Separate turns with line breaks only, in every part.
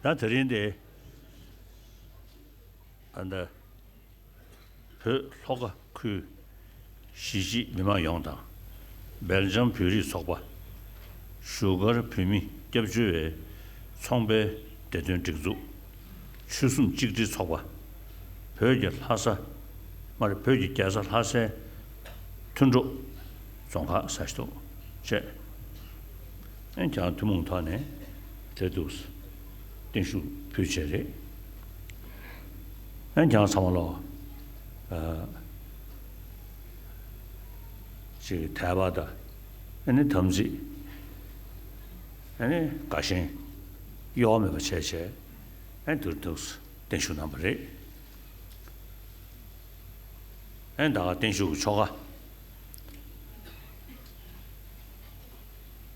ད་དེ་རིང་དེ་འདི་བོད་ལྷོ་ཁ་ཁུལ་གཞིས་བྱེས་མི་མང་ཡོངས་དང་སྦེལ་ཇམ་བོད་རིགས་ཚོགས་པ་བཞུགས་སྒར་བོད་མི་སྐྱབས་བཅོལ་བའི་ཚོང་པའི་བདེ་དོན་སྒྲིག་འཛུགས་ཆོལ་གསུམ་གཅིག་སྒྲིལ་ཚོགས་པ་བོད་ཀྱི་ལྷ་ས་མ་རེད་བོད་ཀྱི་རྒྱལ་ས་ལྷ་སའི་མཐུན་གྲོགས་རྫོང་ཁག་ས་གཞི་ཐུག་བཅས། འོན་ཀྱང་ཐུན་མོང་ཐོག་ནས་འབྲེལ་གཏུག་བརྟན་བཞུགས་ཕུལ་བྱས་རེད། འོན་ཀྱང་ཚང་མ་ལོག་ཅིག་དལ་བ་དང་ཨ་ནི་དམ་ཚིག་ཨ་ནི་དགའ་ཞེན་གཡོ་བ་མེད་པ་བྱས་བྱས་ཨ་འབྲེལ་གཏུག་བརྟན་བཞུགས་གནང་བ་རེད། ཨ་ད་ག་བརྟན་བཞུགས་ཀྱི་ཆོ་ག།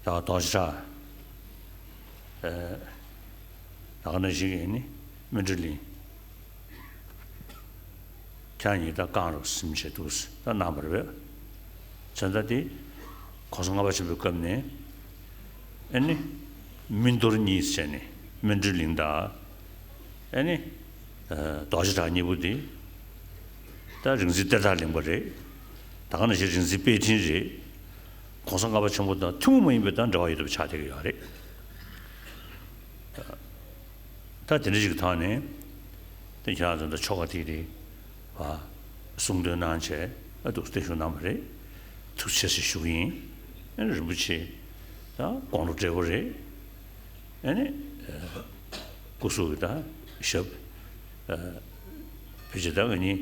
ད་ལྟ་ཞིག་ཡིན་ནི་མི་འདྲ་ལིང། ཁྱེད་ཉིད་ད་གང་རུ་སིམ་བྱེད་འདུག་ཟེར་ད་ནངས་པར་བས། ཚོན་ད་དེ་གོང་ས་ལྔ་པ་ཆེན་པོའི་སྐབས་ནས་ཨེ་ནི་མི་འདོར་གཉིས་བྱས་ནས་མི་འདྲ་ལིང་ད་ཨེ་ནི་རྡོ་ཞིག་གྲགས་གཉིས་པོ་དེ་ད་རིག་འཛིན་གཏེར་བདག་ལིང་པ་རེད། ད་གང་ཞིག་རིག་འཛིན་དཔལ་ཕྲིན་རེད། གོང་ས་ལྔ་པ་ཆེན་པོ་དང་ཐུན་མོང་མ་ཡིན་པའི་དང་འདྲ་བ་ཡོད་དུ་ཆགས་བསྡད་ཀྱི་ཡོད་རེད། ད་དེ་འདྲ་ཞིག་གི་ཐག་ནས་དེ་ཁྱེད་རང་ཚོ་འདྲ་ཆོ་ག་ཐིག་རེ་གསུང་འདོན་གནང་བྱས་འདུག་བརྟན་བཞུགས་གནང་བ་རེད། ཐུགས་ཆེ་ཞེས་ཞུ་གི་ཡིན། རིན་པོ་ཆེ་དང་དགོང་དྲོ་འབྲས་བུ་རེད། ཨ་ནི་སྐུ་གཟུགས་ཀྱི་དང་ཞབས། བོད་ཆས་དག་གི་གཉིས།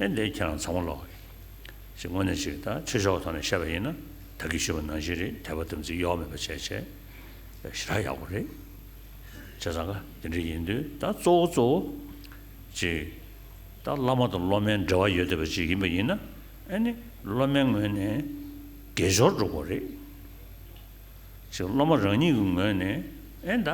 ཨེ་འདི་ཁྱེད་རང་ཚང་མ་ལོག་གི། ཞེས་དངོས་གནས་ཞིག་ད་ཆོས་ཕྱོགས་ཐོག་ནས་བཤད་པ་ཡིན་ན་ད་གིས་ཤི་བ་ནང་བཞིན་རེད་དད་པ་དམ་ཚིག་གཡོ་བ་མེད་པ་བྱས་བྱས་ཞེ་དྲག་ཡག་པོ་རེད། བྱས་ཙང་ཀ་དེ་འདྲ་ཡིན་དུས་ད་གཙོ་བོ་གཙོ་བོ། གཅིག། ད་བླ་མ་དང་སློབ་མའི་འབྲེལ་བ་ཡོད་བསྡད་པ་ཅིག་ཡིན་པ་ཡིན་ན་ཨེ་ནི་སློབ་མའི་ངོས་ནས་དགེ་སྦྱོར་སྒྲུབ་དགོས་རེད། གཅིག་སློབ་མ་རང་ཉིད་ཀྱི་ངོས་ནས་ཨེ་ད་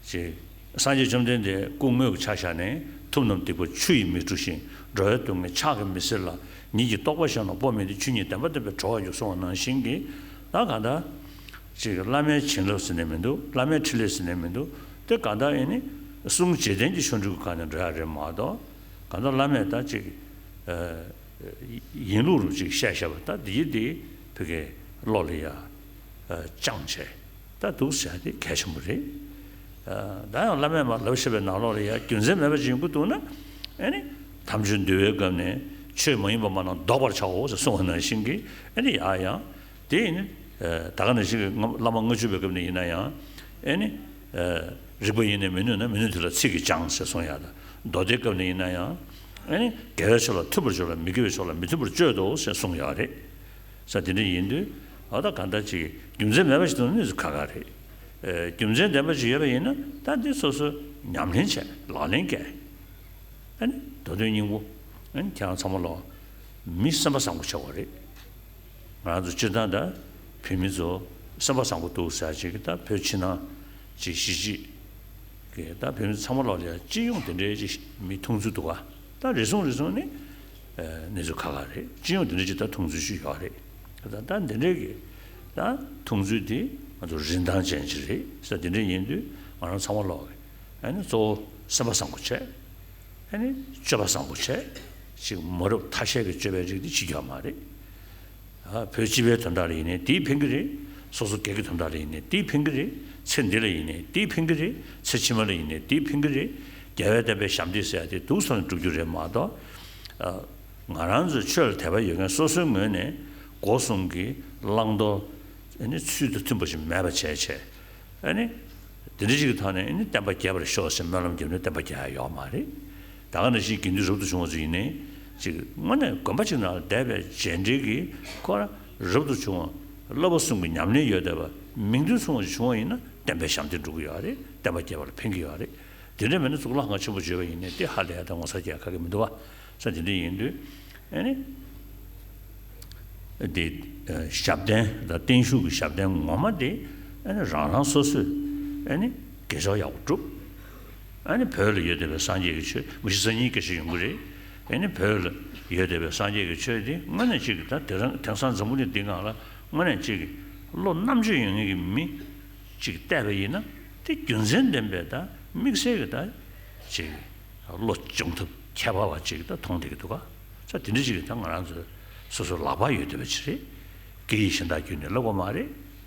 ཞེས། སངས་རྒྱས་བཅོམ་ལྡན་འདས་སྐུ་དངོས་ཀྱི་ཕྱག་བཞག་ནི། ཐུབ་རྣམས་སྡིག་པ་ཆུ་ཡིས་མི་འཁྲུ་ཞིང། འགྲོ་བའི་སྡུག་བསྔལ་ཕྱག་གིས་མི་སེལ་ལ། ཉིད་ཀྱི་རྟོགས་པ་གཞན་ལ་སྤོབས་མི་འདི་ཆོས་ཉིད་བདེན་པ་བསྟན་པའི་གྲོགས་ཡོད་གསུང་བ་ནང་བཞིན་གྱི། ད་གང་ལྟར། ཅེས་བླ་མའི་བྱིན་རླབས་ཟིན་ནས་མི་འདུག་བླ་མའི་ཁྲིད་ལས་ཟིན་ནས་མི་འདུག་དེ་གང་ལྟར་ཡིན་ནི། གསུང་བྱེད་ལྡན་གྱི་ཆོ་འཕྲུལ་གྱི་ཁ་ནས་འགྲོ་ཡ་རེད་མ་གཏོགས། གང་ལྟར་བླ་མས་ད་ཅིག། ཡིན་ལུགས་རུ་ཅིག་བཤད་བཤད་པ་ད་འདི་ཡིན་འདི། བི་གའི་བློ་ལ་ཡ། བཅངས་བྱས། ལྟ་འདུག་བྱ་རྒྱུ་གལ་ཆེན་པོ་རེད། ད་ཡང་བླ་མས་མ་ལབ་ཤེས་པའི་ནག་ལོག་རེ་ཡར་རྒྱུ་མཚན་མེད་པ་ཅིག་ཡོང་གི་འདུག་ན། ཨནི། དམ་ཆོས་འདུལ་བའི་སྐབས་ནས་ཆོས་མ་ཡིན་པ་མང་ན་བཟློག་པར་བྱའོ་ཞེས་གསུང་བ་ནང་བཞིན་གྱི་ཨནི་ཡ་ཡང། དེ་ཡིན་ནི། ད་ག་ནས་ཞིག་གིས་བླ་མ་དངུལ་ཆུ་བའི་སྐབས་ནས་ཡིན་ན་ཡང། ཨནི། རིགས་པ་ཡེ་ནས་མི་ནུས་ན་མི་ནུས་དེ་ལ་ཚིག་གིས་སྦྱང་ཞེས་གསུང་ཡ་ད། མདོ་སྡེའི་སྐབས་ནས་ཡིན་ན་ཡང། ཨནི། དགེ་བའི་ཕྱོགས་ལ་མཐུན་པར་སྦྱོར་ལ་མི་དགེ་བའི་ཕྱོགས་ལ་མི་མཐུན་པར་སྤྱོད་དོ་ཞེས་གསུང་ཡ་རེད། ས་དེ་འདྲ་ཡིན་དུས་ད་ལྟ་གང་འདྲ་ཅིག་རྒྱུ་མཚན་མེད་པ་ཞིག་དང་གནས་ཚུལ་ཁག་ཁག་རེད། རྒྱུ་མཚན་ལྡན་པ་ཞིག་ཡོད་པ་ཡིན་ན་ད་འདི་སོ་སོས་ཉམས་ལེན་བྱས་ལག་ལེན་བཀལ། ཨ་ནི་མདོ་དོན་སྙིང་པོ། ཨ་ནི་ཁྱེད་རང་ཚང་མ་ལོ། མི་སེམས་པ་བཟང་པོ་ཆགས་པ་རེད། ང་རང་ཚོ་སྤྱིར་བཏང་ད་བོད་མི་ཚོ་སེམས་པ་བཟང་པོ་འདུག་ཟེར་ཅིག་ད་བོད་ཕྱི་ནང་ཅིག་གཞིས་ཅིག་གི་ད་བོད་མི་ཚང་མ་ལོ་ལེ་སྤྱི་ཡོངས་དེ་འདྲའི་ཅིག་མི་ཐུང་ཚོད་འདུག་ད་རེ་ཟུང་རེ་ཟུང་ནི། གནས་ཚུལ་ཁག་ཁག་རེད་སྤྱི་ཡོངས་དེ་འདྲ་ཅིག་ད་མཐོང་ཚུལ་ཞིག་ཡོད་རེད་ད་ད་འདི་འདྲའི་གི་ད་མཐོང་ཚུལ་དེ་ང་ཚོ་རིན་ཐང་ཅན་ཅིག་རེད་ས་དེ་འདྲའི་ཡིན་དུས་ང་རང་ཚང་མ་ལོག་གི་ཨ་ནི་གཙོ་བོ་སེམས་པ་བཟང་པོ་བྱས་ཨ་ནི་སྤྱོད་པ་བཟང་པོ་བྱས་ཅིག་མ་རུབ་ཐ་ཤལ་གི་སྤྱོད་པའི་རིགས་དེ་ཕྱི་རྒྱལ་བ་མ་རེད། བོད་སྤྱི་པའི་དོན་དག་ལ་ཡིན་ནས་དེའི་ཕན་གྱི་རེད། སོ་སོ་སྐད་ཀྱི་དོན་དག་ལ་ཡིན་ནས་དེའི་ཕན་གྱི་རེད། ཚེ་འདི་ལ་ཡིན་ནས་དེའི་ཕན་གྱི་རེད། ཚེ་ཕྱི་མ་ལ་ཡིན་ནས་དེའི་ཕན་གྱི་རེད། རྒྱལ་བས་བསྟན་པའི་ཞབས་འདེགས་ཟེར་ཡ་དེ་དུག་ཚང་ནས་བསྒྲུབ་རྒྱུ་རེད་མ་གཏོགས། ང་རང་ཚོའི་ཆོས་ལ་དད་པ་ཡོད་མཁན་སོ་སོའི་ངོས་ནས་སྒོ་གསུམ་གྱི་བླང་དོར། ཚུལ་དང་མཐུན་པ་ཞིག་མེད་པ་བྱས་བྱས། འདི་འདྲ་ཞིག་གི་ཐོག་ནས་བསྟན་པ་རྒྱས་པར་ཤོག་ཅེས་སྨོན་ལམ་རྒྱབ་ནས་བསྟན་པ་རྒྱས་ཡག་ཡོད་མ་རེད། ད་ག་ནས་ཅིའི་དགེ་འདུན་རབ་ཏུ་བྱུང་བ་ཚོ་ཡིན་ནི། ཅིག་དངོས་གནས་དགོན་པ་ཅིག་ན་བསྡད་པའི་རྗེས་འབྲེལ་གྱི་སྐོར་ལ་རབ་ཏུ་བྱུང་བ་བསླབ་པ་གསུམ་གྱི་ཉམས་ལེན་ཡོད་བསྡད་པ་མིང་དོན་མཚུངས་བ་ཅིག་བྱུང་བ་ཡིན་ན་བསྟན་པའི་ཞབས་འདེགས་འགྲོ་གི་ཡོད་རེད་བསྟན་པ་རྒྱས་པ་ལ་ཕན་གྱི་ཡོད་རེད་དེ་འདྲ་མེད་ན་གཙུག་ལག་ཁང་ཆེན་པོ་བརྗོད་པ་ཡིན་ནི་ཏེ་ཧ་ལས་ད་ངོ་ཚ་རྒྱས་ཁ་གི་མི་འདུག་བ་ཚ་དེ་འདྲ་ཡིན་དུས་ནས་ཞབས་བརྟན་དང་བརྟན་བཞུགས་ཀྱི་ཞབས་བརྟན་ངོ་མ་དེ་རང་རང་སོ་སོས་དགེ་སྦྱོར་ཡག་པོ་བསྒྲུབས། ཨཱ་ནི་བོད་ལ་ཡོད་བསྡད་པའི་སངས་རྒྱས་ཀྱི་ཆོས་མི་ཤེས་ས་གཉིས་ཀ་ཞིག་ཡོང་གི་རེད། ཨཱ་ནི་བོད་ལ་ཡོད་བསྡད་པའི་སངས་རྒྱས་ཀྱི་ཆོས་དེ་དངོས་གནས་གཅིག་གི་ད་དེ་རང་དེང་སང་འཛམ་བུ་གླིང་འདི་འང་ལ་དངོས་གནས་གཅིག་གི་བློ་རྣམ་དཔྱོད་ཡོད་ངེས་ཀྱི་མི་གཅིག་བསྡད་པ་ཡིན་ན་དེ་རྒྱུ་མཚན་ལྡན་པའི་ད་དམིགས་བསལ་གྱི་ད་གཅིག་གི་བློ་སྦྱོང་ཐབས་ཁྱད་པར་བ་གཅིག་གི་ད་མཐོང་བསྡད་ཀྱི་འདུག་ག་ཚ་དེ་འདྲ་ཞིག་གི་ད་ང་རང་ཚོའི་སོ་སོའི་ལག་པར་ཡོད་བསྡད་པ་ཅིག་རེད། སྐད་ཡིག་གཞན་དག་བརྒྱུད་ནས་བསླབ་དགོས་མ་རེད།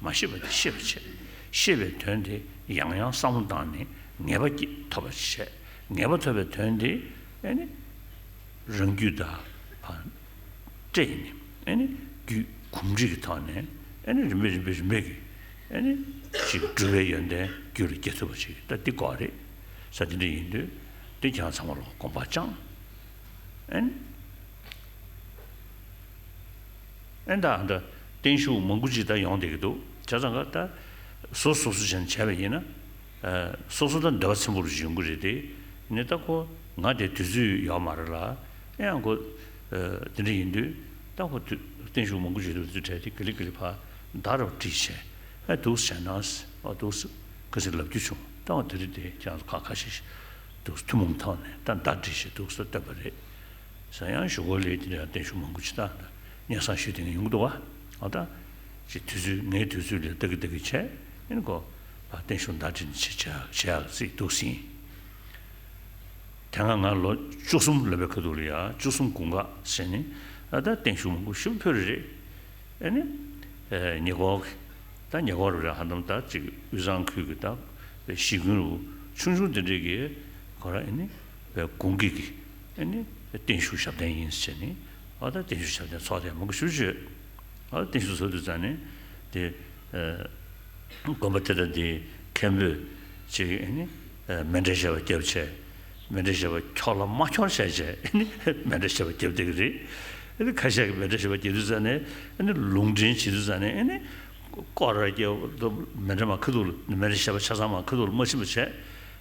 མ་ཤེས་པ་དེ་ཤེས་པར་བྱེད། ཤེས་པའི་དོན་དེ་ཡང་ཡང་བསམ་བློ་བཏང་ནས་ངེས་པ་ཐོབ་པར་བྱེད། ངེས་པ་ཐོབ་པའི་དོན་དེ། རང་རྒྱུད་དག་པར་སྤྲད་ནས། རྒྱུད་གོམས་འདྲིས་ཀྱི་ཐོག་ནས། རིམ་པས་རིམ་པས་རིམ་པས་ཀྱིས། འགྲོ་བའི་ཡོན་ཏན་རྒྱུད་ལ་སྐྱེ་ཐུབ་པར་བྱེད། ད་འདི་གོ་རེ། ས་འདི་འདྲ་ཡིན་དུས། འདི་གྱང་ཚང་མ་ལོག་དགོངས་པ་བཅངས། ཨན་ད་ཨན་ད། བརྟན་བཞུགས་མང་པོ་ཅིག་ད་ཡོང་བསྡད་ཀྱི་འདུག་བྱ་ཙང་ཁ་ད། བཟོ་བཟོ་བཟོ་བྱས་ནས་བྱས་པ་ཡིན་ན། བཟོ་བཟོ་ད་འདོད་པ་ཚིམ་པོ་རུ་འབྱུང་གི་རེད་དེ། ནི་ད་ཁོ་ང་དེ་དུས་ཚོད་ཡོད་མ་རེད་ལ། ཨེ་ཡང་ཁོ། དེ་འདྲ་ཡིན་དུས། ད་ཁོ་དུས་བརྟན་བཞུགས་མང་པོ་ཅིག་དུས་ཚོད་བྲལ་ཏེ་གི་ལི་གི་ལི་ཕ། ད་ར་བ་བྲིས་བྱས། ཨེ་འདུག་བྱས་ན། ཨོ་འདུག། གི་ཟིག་ལབ་རྒྱུ་བྱུང་ད་ཨོ་དེ་རེད་དེ་ཀྱང་ཁ་ཁ་ཤིག། འདུག་ཐུན་མོང་ཐོག་ནས་ད་ད་བྲིས་བྱས་འདུག་ད་བསྟོད་པ་རེད། ཟང་ཡང་ཞུ་གོ་ལེ་དེ་ལས་བརྟན་བཞུགས་མང་པོ་བྱེད་ད། གཉེན་བཟང་ཞིག་དེ་ནས་ཡོང་གི་འདུག་བ། ཨ་ད། ཅེས་དུས་ཚོད་ངའི་དུས་ཚོད་ལས་ལྡག་གི་ལྡག་གི་བྱས། ཨེ་ནི་ཀོ། ད་བརྟན་བཞུགས་མདའ་དྲིལ་ནས་བྱེད་ཡག་བྱེད་ཡག་ཟིག་འདུག་ཟིན། དེ་སྔ་ང་ལོ་བཅུ་གསུམ་ལོན་པའི་ཁ་ཐུག་ལ་ཡ་བཅུ་གསུམ་དགུང་ཁ་ཟེར་ནས་ཨ་ད་བརྟན་བཞུགས་མང་པོ་ཞུ་ཕོད་རེད། ཨེ་ནི། ཉེ་འཁོར་གི། ད་ཉེ་འཁོར་རེད་ཧ་དམ་ད་ཅིག་དབུས་གཙང་ཁུལ་གྱི་ད་བའི་གཞིས་ཀུན་རུ་ཆུང་ཆུང་དེ་འདྲས་ཀྱི་གོ་ར་ཨེ་ནི། བའི་དགུང་གི་གི། ཨ་ནི་བརྟན་བཞུགས་ཞབས་བརྟན་ཡིན་ཟེར་ནི། ཨ་ད་བརྟན་བཞུགས་ཞབས་བརྟན་ཚོགས་ཐེངས་མང་པོ་ཞུ་ཆོས། ཨ་བརྟན་བཞུགས་ཚོགས་དུས་ཙང་ནི། དེ། དགོན་པ་དེ་དང་དེའི་མཁན་པོས། གཅིག་ཨ་ནི། མེ་འདྲེ་ཞེས་པ་སྐྱབས་བྱས། མེ་འདྲེ་ཞེས་པ་ཁྱོག་ལ་མ་ཁྱོག་བྱས་བྱས་ཨ་ནི། མེ་འདྲེ་ཞེས་པ་སྐྱབས་བསྡད་ཀྱི་རེད། ཨ་ནི་ཁ་ཤས་ཀྱིས་མེ་འདྲེ་ཞེས་པ་སྐྱེས་དུས་ཙང་ནི། ཨ་ནི་ལུང་འདྲེན་བྱེད་དུས་ཙང་ནི་ཨ་ནི། ཀོ་ར་སྐྱེས། མེ་འདྲེ་མ་ཁུ་ཐུག་ལ་མེ་འདྲེ་ཞེས་པ་ཆ་ཚང་མ་ཁུ་ཐུག་ལ་མ་ཕྱིན་པ་བྱས།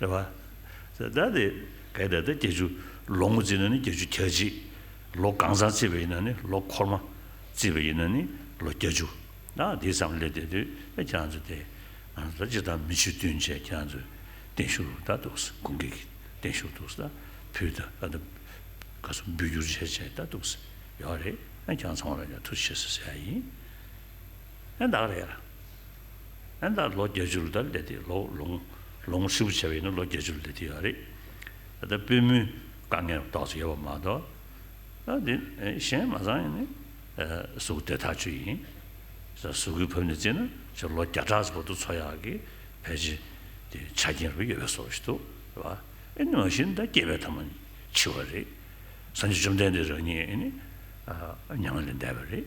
རེད་བ། ད་ལྟ་དེ་གའི་ད་ལྟ་བརྒྱད་ཅུ་ལོ་ངོ་བརྩིས་ན་ནི་བརྒྱད་ཅུ་གྱ་གཅིག་ལོ་གང་བཟང་བརྩིས་པ་ཡིན་ན་ནི་ལོ་འཁོར་མ་བརྩིས་པ་ཡིན་ན་ནི་ལོ་བརྒྱ་ཅུ་ཨ་དེ་ཙམ་སླེབས་བསྡད་དུས་ཨེ་ཁྱེད་རང་ཚོ་དེ་ང་ཚོ་ལ་ཅི་ལྟར་མི་ཆོས་བསྟུན་བྱས་ཁྱེད་རང་ཚོས་བརྟན་བཞུགས་རུ་ད་འདུག་ས་དགུན་སྐད་ཀྱི་བརྟན་བཞུགས་འདུག་ས་ཕུལ་ད་ད་ད་ག་ས་འབུལ་རྒྱུར་བྱས་བྱས་ད་འདུག་ས་ཡོད་རེད་ཨེ་ཁྱེད་རང་ཚང་མ་ལ་ཡང་ཐུགས་རྗེ་ཆེ་ཟེར་ས་ཡིན། ཨན་ད་རེད། ཨན་ད་ལོ་བརྒྱད་ཅུར་ད་སླེབས་ཏེ་ལོ་ལོངས་ལོངས་ཧྲིལ་པོ་བྱས་པ་ཡིན་ན་ལོ་བརྒྱད་ཅུར་སླེབས་ཐུབ་ཡོད་རེད། ད་པུས་མོའི་དཀའ་ངལ་རྡོག་ཅིག་ཡོད་པ་མ་གཏོགས། ཨ་དེ་གཞན་མ་ཚང་ཡིན། གཟུགས་དེ་ཐག་ཆོད་ཡིན། གཟུགས་ཀྱི་བབ་ནས་བརྩིས་ན་ཕྱིར་ལོ་བརྒྱ་ཕྲག་བར་དུ་འཚོ་ཡག་གི་བེད་སྤྱི་དེ་ཆ་རྐྱེན་རུ་ཡོད་པའི་བཟོ་བོ་ཞིག་འདུག་བ། ཨན་མ་གཞི་ད་སྐྱེས་པའི་ཐ་མ་འཆི་བ་རེད། སངས་རྒྱས་བཅོམ་ལྡན་འདས་རང་ཉིད་ཨན་མྱང་ལས་འདས་པ་རེད།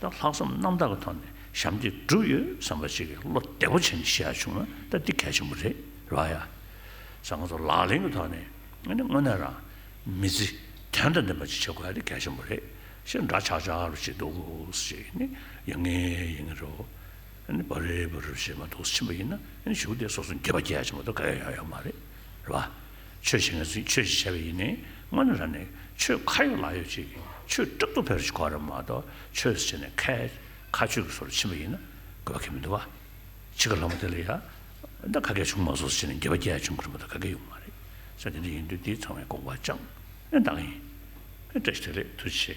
དང་ལྷག་བསམ་རྣམ་དག་གི་ཐོག་ནས་ཞབས་འདེགས་བསྒྲུབས་ཡོད་བསམ་པ་ཞིག་གིས་བློ་བདེ་པོ་བྱས་ནས་བཤད་ཡ་བྱུང་ན་ད་འདི་གལ་ཆེན་པོ་རེད་རོགས་ཡ། ས་ང་ཚོ་ལག་ལེན་གྱི་ཐོག་ནས་ང་ནི་དངོས་གནས་རང་མི་རྩི་དོན་དང་ལྡན་པ་ཅིག་བྱེད་དགོས་ཡ་འདི་གལ་ཆེན་པོ་རེད་ཞེས་འདྲ་ཆགས་ཆགས་རུ་བྱེད་འདུག་ཞེས་ནི་ཡ་ངས་ཡིན་ངེས་རོ། བ་རེ་བ་རུ་བྱེད་མ་འདུག་ཕྱིན་པ་ཡིན་ན་ཞུགས་ཏེ་སོ་སོ་འགྱོད་པ་རྒྱལ་ཆེན་པོ་དང་ག་ཡ་ཡ་ཡོད་མ་རེད་རོགས། ཆོས་ཞེས་ངེད་ཚོས་ཆོས་ཞེས་བྱ་བའི་ཡིན་ནི་དངོས་གནས་ར་ནི་ཆོས་ཁ་ཡོད་ལག་ཡོད་ཅིག་ཆོས་སྐྲག་སྡུག་ཕལ་གྱི་གོ་ར་མ་གཏོགས་ཆོས་ཞེས་ནི་ཁ་ཁ་ཆོས་ཀྱི་སོ་ལ་ཕྱིན་པ་ཡིན་ན་དགོས་པ་ཁས་མི་འདུག་བ། འཆི་ཁ་ལྷག་མ་དེ་ལ་ཡང་ད་ག་གེ་བྱུང་མ་བཟོ་ཟེར་ནས་འགྱེལ་བ་བརྒྱད་བྱུང་གི་རུང་བ་ད་ག་གེ་ཡོང་མ་རེད་ས་དེ་འདྲ་ཡིན་དུས་དེའི་ཚང་བའི་དགོངས་པ་ཅང་ནས་འདང་ཡིན། བཀྲ་ཤིས་བདེ་ལེགས་མཐུ་ཆེ།